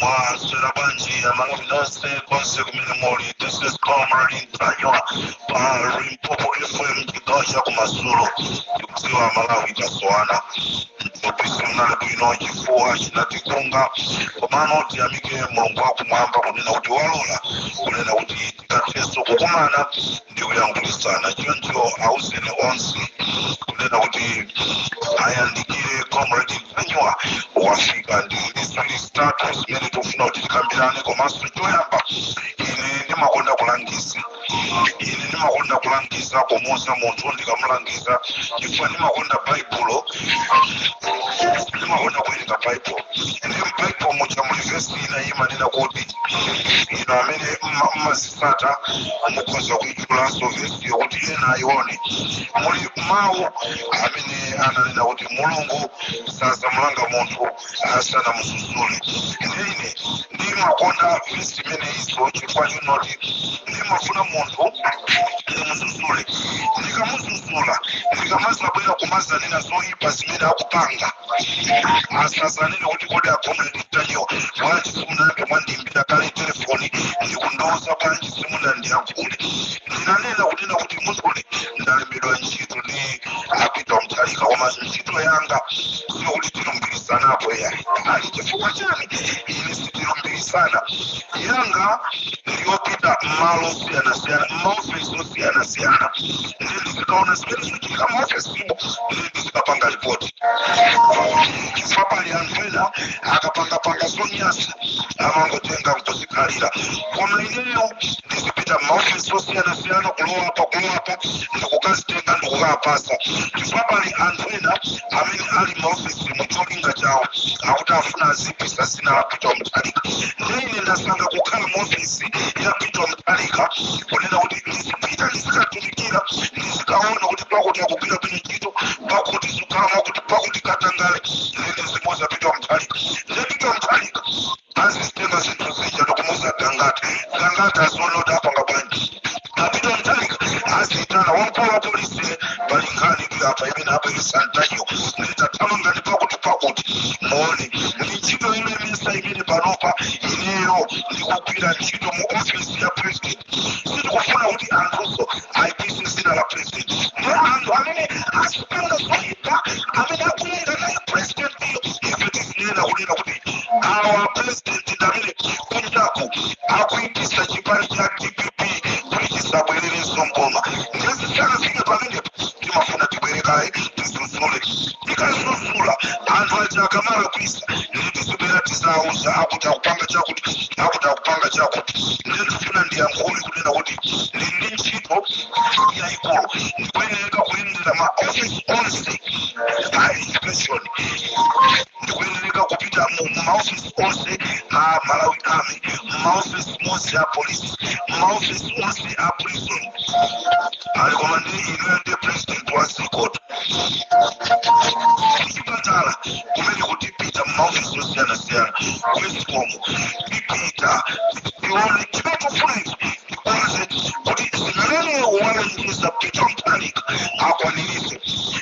mwaswera bwanji amalawi nonse konse kumene muli this is comrade ntanyiwa pa limpopo fm chigawo cha kumadzulo ndikudziwa amalawi tasowana mthupi simunali bwino chifuwa chinatikunga komano tiyamike mulungu wakumwamba kunena kuti walola kunena kuti tikathenso kukumana ndikuyankhulitsana choncho auzeni onse kunena kuti ayandikire comrade ntanyiwa wafika ndi ziwiri zitatu zimene tikufuna kuti tikambirane komanso choyamba ine ndimakonda kulangiza ine ndimakonda kulangiza kumuuza munthu ndikamulangiza chifukwa ndimakonda baibulo ndimakonda kuwerenga baibulo ndi mbaibulo muja muli vesi ina imanena kuti inu amene mma- mmazi sata mukhoza kuitchulanso vesiyo kuti ena ayione muli mawu amene ananena kuti mulungu sazamulanga munthu asanamuzuzule ine ndimakonda vesi imeneyinso chifukwa chinoti ndimafuna munthu ndimuzuzule ndikamuzuzula ndikamazabwera kumazanena zoyipa zimene akupanga asazanene kuti kodi a comrade ntanyiwa bwanji simunayambe mwandimba kale telefoni ndikundiuza bwanji simunandiyankhule ndinanena kunena kuti muziwe ndalembedwa ntchito ndi a peter muthalika koma ntchito yanga sikuti tilumbirisanapo yayi ali chifukwa chani ine sitilumbirisana yanga ndiyopita mmalo osiyanasiyana mmaofesi osiyanasiyana ndi ndizikaona zimene zikuchitika maofesimo ndi ndizikapanga ripoti chifukwa pali anthu ena akapangapanga zonyasa amangotenga nkuzikhalira koma ineyo ndizipita maofesi osiyanasiyana kulowa apa kulowa apa ndikukazitenga ndikukapasa chifukwa pali anthu ena amene ali maofesi mu cholinga chawo akuti afuna aziipisa zina la peter muthalika nde ine ndasankha kukhala maofesi ya peter muthalika kunena kuti ndizipita ndizikatumikira ndizikaona kuti pakuti akugwira bwino ntchito pakuti zikhala mwakuti pakuti katangale ndizimuuza a peter muthalika nde a peter muthalika azizitenga zinthu zija ndikumuuza gangata gangata azolota apanga bwanji a peter muthalika aziyitana wamkulu wa polisi pali nkhani ndi apa imene abweresa ntanyiwa nde tathamangani pakuti pakuti muone ndi ntchito imene misa imene panopa ineyo ndikugwira ntchito mu ofisi ya president sitikufuna kuti anthuso aipise dzina la president ndi anthu amene azipanga zoipa amene akuyenda naye president iyo ife tizinena kunena kuti awa a president ndi amene kunjaku akuipisa chipani cha dpp kuti chisabwererenso mboma nde zisakafike pamenepo timafuna tibwere kaye tizuzule tikazuzula anthu aja akamalakwisa ndikutibera tizauza akuti akupanga chakuti akuti akupanga chakuti ndiye ndifuna ndiyankhule kunena kuti ndili ndi ntchito yayikulu ndikuyeneka kuyendera ma office onse a education ndikuyeneka kupita mu mu ma office onse a malawi army mu ma office onse a police mu ma office onse a prison ali komweko ndi inuyo ndi president wa zikoto chipatala kumene tipita mumaofisi osiyanasiyana kwesikomo tipita tione chimene chikufunika tikonze kuti zimene walonjeza peter mthalika akwanirise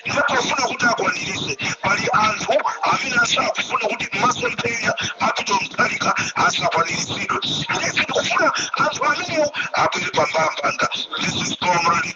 ndipofuna kuti akwanirise pali anthu amene asakufuna kuti masomphenya a peter mutharika asakwaniritsidwe ndiye ndikufuna anthu amenewo abwere pambambanga this is comrade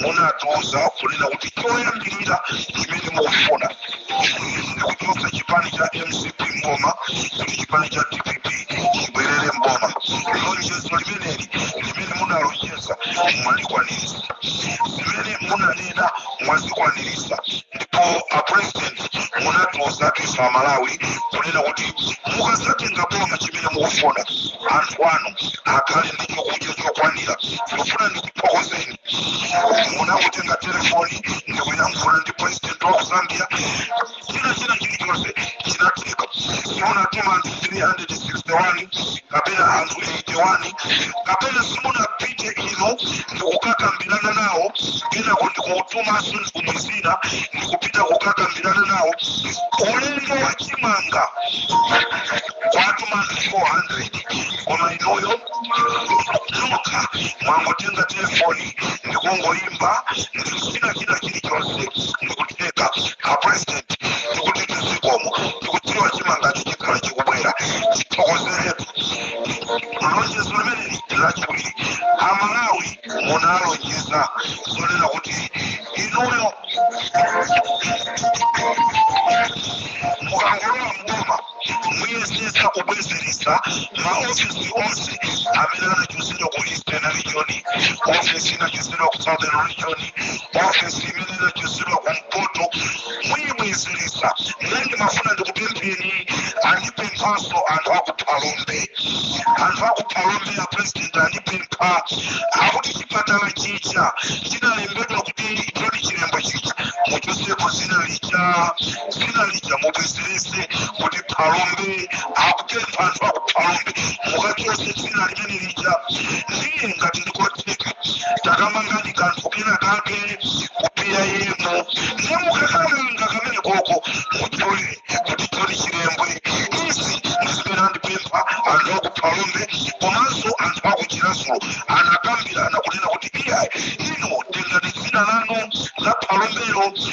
munatiuza kunena kuti choyambirira chimene mukufuna ndikuchotsa chipani cha mcp mboma kuti chipani cha dpp chibwerere mboma lonjezo limeneli limene munalonjeza mwalikwanirisa zimene munanena mwazikwanirisa ndipo apresident munatiuza ife amalawi kunena kuti mukazatenga boma chimene mukufuna anthu anu akhale ndi chakudya chokwanira ndifuna ndi thokozeni munangotenga telefoni ndikuyankhula ndi president wa ku zambia china china chilichonse chinatheka simunatume anthu 361 kapena anthu 81 kapena simunapite inu ndikukakambirana nawo kenako ndikutumanso nduna zina ndikupita kukakambirana nawo ulendo wa chimanga kwatuma anthu 400 koma inuyo kutuluka mwangotenga telefoni ndikungoyimba ndiye china chilichonse ndikutheka apresident ndikuti zikomo ndikudziwa chimangacho chikhala chikubwera tithokozeretu lonjezo limeneli lachiwiri amalawi munalonjeza zonena kuti inuyo mukangolowa mboma muyesetsa kubwezeretsa maofesi onse amene anachotsedwa ku eastern region ofesi inachotsedwa ku southern region ofesi imene inachotsedwa ku mpoto muyibwezeretsa ndiye ndimafuna ndikupempheni andipemphanso anthu akuphalombe anthu akuphalombe a president andipempha akuti chipatala chija chinalembedwa kuti choti chilembwe chija muchosepo dzina lija dzina lija mubwezerese kuti phalombe akupempha anthu akuphalombe mukachose dzina limene lija ndiye ngati ndikotheka takamangani kanthu kena kake ku PIM ndiye mukakamanga kamene koko mutchule kuti Joni chilembwe izi ndizimene andipempha anthu akuphalombe komanso anthu akuchirazulu anakambirana kunena kuti iyayi ino tengani dzina lanu la phalombelo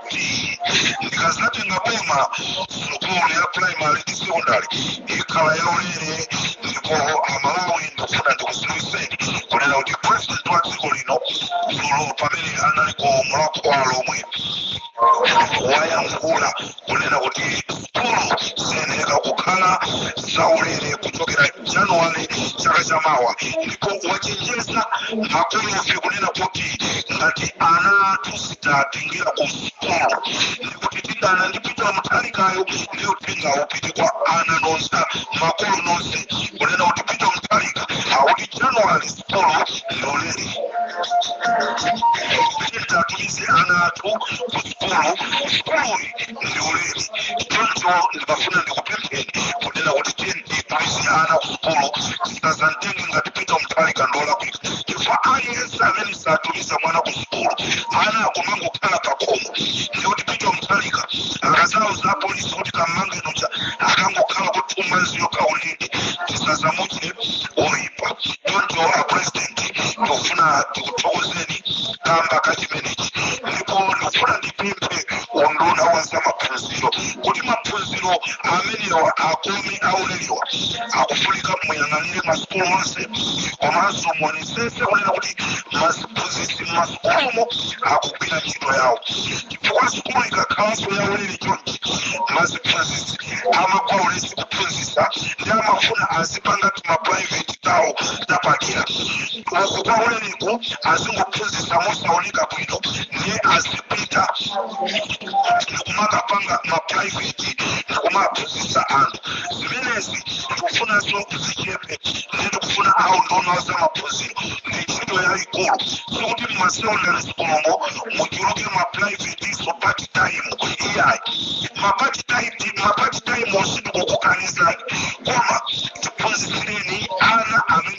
kuti ndikazatenga boma sukulu ya primary ndi secondary ikhala yaulere ndipo amalawi ndikufuna ndikuziwiseni kunena kuti president wa dziko lino dzulo pamene anali ku Mulakho wa alomwe wayankhula kunena kuti kulu ziyenera kukhala zaulere kuchokera januwale chaka chamawa ndipo wachenjeza makolo onse kunena kuti ngati ana athu sitiwatengera ku sukulu ndikuti tidana ndi pitala muthalikayo ndiyo uthenga upite kwa ana onse makolo onse kunena kuti pitala muthalika akuti januwale sukulu yaulere tiwatumize ana athu ku kulu sukuluyi ndi yaulere choncho ndimafuna ndikupempheni kunena kuti tiyeni titumize ana kusukulu tisazamtenge ngati pita mtalika ndi olakwika chifukwa aliyense amene satumiza mwana kusukulu ana akumangokhala pakhomo ndikuti pita mtalika akazauza apolisi kuti kammange uja akangokhala kuti tumiza iwo kaulinde tisazamutche oyipa choncho a president tikufuna tikuthokozeni kamba ka chimenechi ndipo ndikufuna ndipemphe unduna wa za maphunziro kuti maphunziro amenewa akome aulerewa akufunika muyang'anire masukulu onse komanso muonesese kunena kuti maphunzitsi m'masukulumo akugwira ntchito yawo chifukwa sukulu ikakhalanso yaulere chonchi maphunzitsi amagwa ulesi kuphunzitsa ndiye amafuna azipanga timaprivate tawo tapadera uku kwaulere ku azingophunzitsa mosaoneka bwino ndiye azipita ndikumakapanga maprivate ndikumaphunzitsa anthu zimenezi tikufunanso zichepe ndiye tikufuna aunduna wa za maphunziro ndi ntchito yayikulu sikuti mmasekondary sukulumo muchuluke maprivatenso part time iyayi mapart timewo sitikukukanizani koma tiphunzitsireni ana amene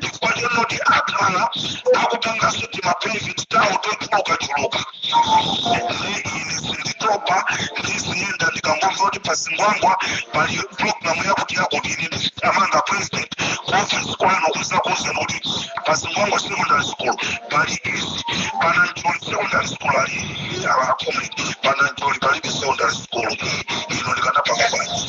chifukwa chonoti akhala akupanganso timaprivate tawo tochulukachuluka ine sinditopa ndiziyenda ndikangomva kuti pazingwangwa pali programu yakuti yakuti ine ndizithamanga president kuofisi kwanu kuzakuuzani kuti pazingwangwa secondary school pali izi panancholi secondary school ali akomeni panancholi palibe secondary school ine ndikanapanga bwanji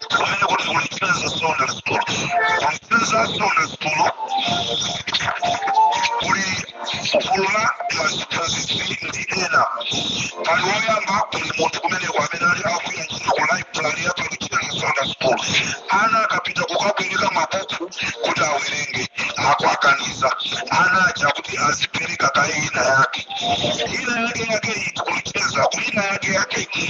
kumeneko ndi kuluchenza secondary school kuluchenza secondary school kuli gulu la maziphunzitsi ndi ena pali woyamba kuli munthu kumeneko amene ali akugwira ntchito ku library ya paluchenza secondary school ana akapita kukabwereka mabuku kuti awerenge akuwakaniza ana aja kuti azipereka kaye ina yake ina yake yake iti kuluchenza ku ina yake yake iti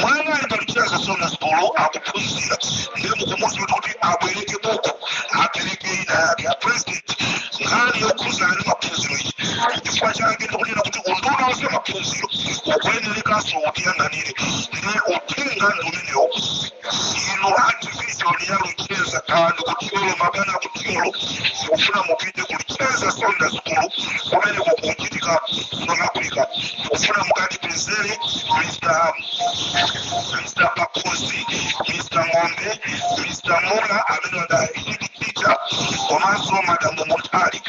mwana ali paluchenza secondary school akuphunzira ndiye mukumuuza kuti kuti abwereke buku apereke ina yake a president nkhani yokhuzana ndi maphunziro iyi chifukwa chake ndikunena kuti unduna wa za maphunziro ukuyenerekanso utiyang'anire nde uthenga ndi umenewo inu a division ya luchenza kaya ndi kuthyolo mabwana kuthyolo ndikufuna mupite kuluchenza secondary school kumene kukuchitika south africa ndikufuna mukatipezere mr mr pakosi mr ng'ombe mr mula amene ali head teacher komanso madamu mutali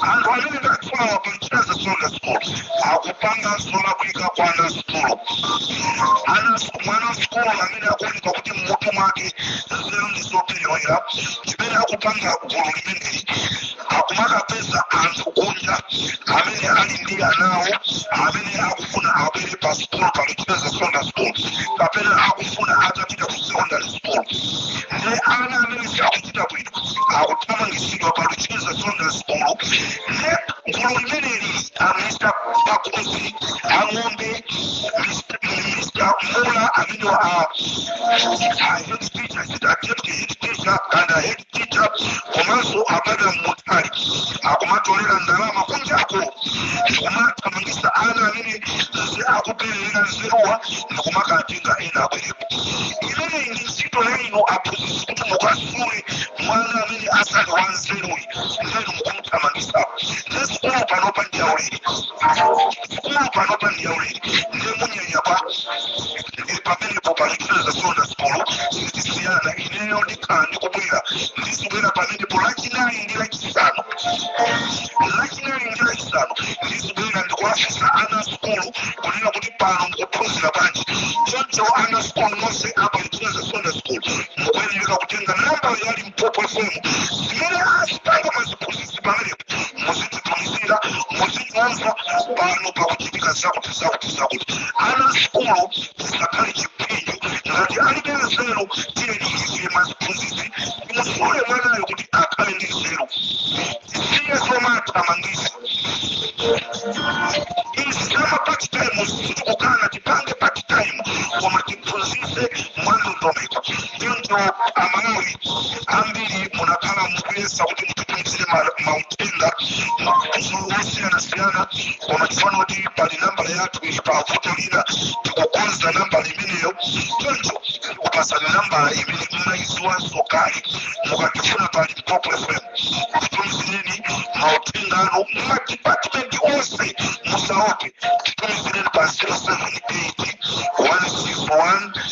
anthu amene ndatchulawa paluchenza secondary school akupanga south africa kwa ana asukulu ana mwana wasukulu amene akuoneka kuti mmutu mwake nzeru ndi zopelewera zimene akupanga gulu limeneli akumakapeza anthu kunja amene ali ndi anawo amene akufuna abwere pa sukulu paluchenza secondary school kapena akufuna atapita ku secondary school ndi ana amene sakuchita bwino akuthamangitsidwa pa luchenza secondary school ndi gulu limeneli a mr pakosi ang'ombe mr mula amene wa a head teacher achita attempt head teacher and a head teacher komanso a madam mutali akumatolera ndalama kunjako ndikumathamangisa ana amene nze akuperewera nzeruwa ndikumakatenga ena abwerepo imeneyi ndi ntchito yainu aphunzitsi kuti mukasule mwana amene asali wanzeruyi ndinu kuthamangisa nde sukulu panopa ndi yaulere sukulu panopa ndi yaulere nde munyanya pa ndi pamenepo paluchenza secondary school sitisiyana ineyo ndikhala ndikubwera ndizibwera pamenepo lachinayi ndi lachisanu lachinayi ndi lachisanu ndizibwera ndikuwafunsa ana a sukulu kunena kuti pano mukuphunzira bwanji choncho ana a sukulu nonse apaluchenza secondary school mukuyenera kutenga nawo mbali mpopo fm zimene azipanga maziphunzitsi pamenepo muzititumizira muzinyamva pano pakuchitika zakuti zakuti zakuti ana sukulu zisakhale chipinjo ngati alibe nzeru tiyeni ife maziphunzitsi timusule mwanayo kuti akhale ndi nzeru tisiye zomathamangisa izi zama part time sitikukana tipange part time koma tiphunzise mwandondomeko choncho amalawi ambiri munakhala mukuyesa kuti mutitumizire mauthenga osiyanasiyana koma tifana kuti pali nambala yathu ili pa vuto lina tikukonza nambala imeneyo choncho tikupasani nambala imene mmayiziwanso kale mukatifuna pa limpopo fm titumizireni mauthenga anu madipatimenti onse musaope titumizireni pa 078 161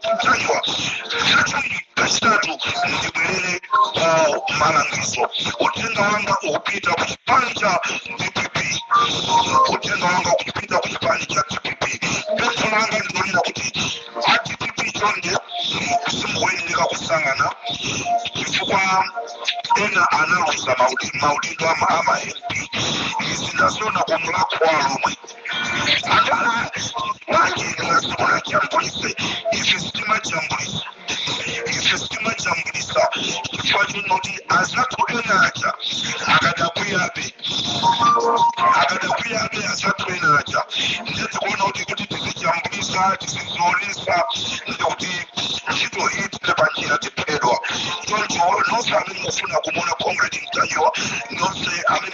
ntanyiwa chachiwiri kachitatu ndibwerere ku malangizo uthenga wanga ukupita ku chipani cha dpp uthenga wanga ukupita ku chipani cha dpp pempho langa ndi lonena kuti a dpp chonde simukuyenera kusankhana chifukwa ena analuza maudindo ama mp izi ndaziona ku mulhako wa alhomwe Atala, manje inasukula jambulise, ife sitimajambulisa. Ife sitimajambulisa, chifukwa chinoti azathu ena aja akadakwiyabe akadakwiyabe azathu ena aja nde tikuona kuti kuti tizijambulisa tizizionesa ndekuti ntchito iyi ithera panjira tiphedwa choncho nonse amene mufuna kumuona comrade ntanyiwa nonse amene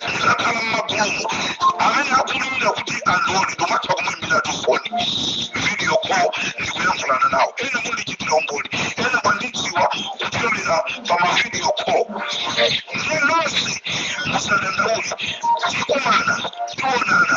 ndikakhala m'magulumu amene akuumirira kuti andione ndimatha kumuimbira tifoni video call ndikuyankhulana nawo ena mundichitira umboni ena mwandidziwa kupyolera pa mavideo call ndiye nonse musadandaule tikumana tionana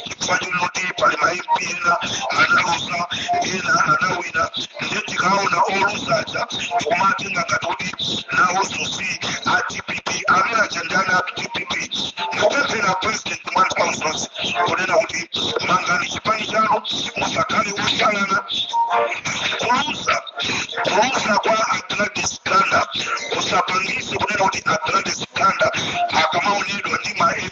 chifukwa choti pali ma mp ena analuza ena anawina ndiye tikaona oluzaja tikumatenga ngati kuti nawonso si a dpp amene aja ndi ana a dpp ndikupempha a president mwanthu wamzonse kunena kuti mangani chipani chanu musakhale osalana kuluza kuluza kwa a gladys ganda kusapangise kunena kuti a gladys ganda akamaonedwa ndi ma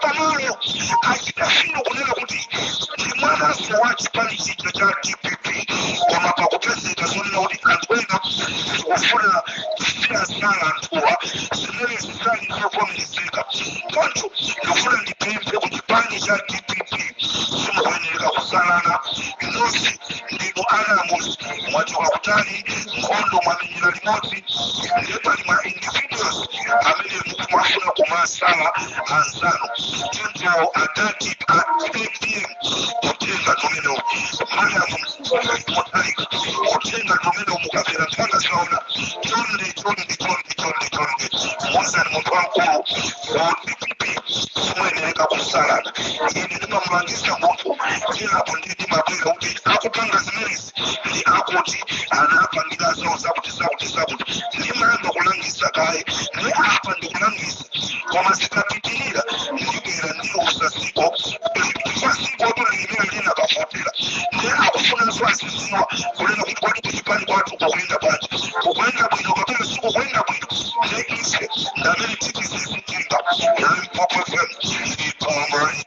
pamalo achita fino kunena kuti ndi mwananso wa chipani chija cha dpp koma pakupezeka zonena kuti anthu ena akufuna aziwasala anthuwa zimene zisali zovomerezeka choncho ndikufuna ndipemphe ku chipani cha dpp simukuyenereka kusalana nonse ndinu ana amodzi mwachoka kutali nkhondo mwamenya ila limodzi ndiye pali ma individuals amene mukumafuna kumasala anzanu choncho adadi a apm kutenga tumenewo madamu mutharika kutenga tumenewo mukapera mpaka saona chonde chonde chonde chonde chonde muuzeni munthu wamkulu a dpp simuyenereka kusalana ine ndimamulangiza munthu kenako ndimabwera kuti akupanga zimenezi ndi akuti anapangidwa zawo zakuti zakuti zakuti ndimayamba kulangiza kaye ndi apa ndikulangiza koma zikapitirira ndibwera ndiuza ziko chifukwa zikotu ndi limene linakavotera ndi akufunanso aziziwa kunena kuti kodi kuchipani kwathu kukuyenda bwanji kukuyenda bwino kapena sikukuyenda bwino ndiye ife ndamene tizizitenga limpopo fm ipomoi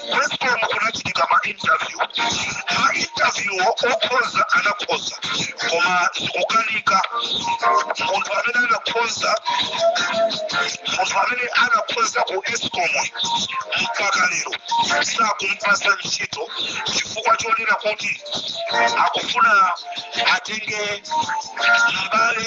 ku escom kunachitika ma interview ma interview okhoza anakhoza koma zikukanika munthu amene anakhoza munthu amene anakhoza ku escom mpaka lero sakumpasa ntchito chifukwa chonena kuti akufuna atenge mbale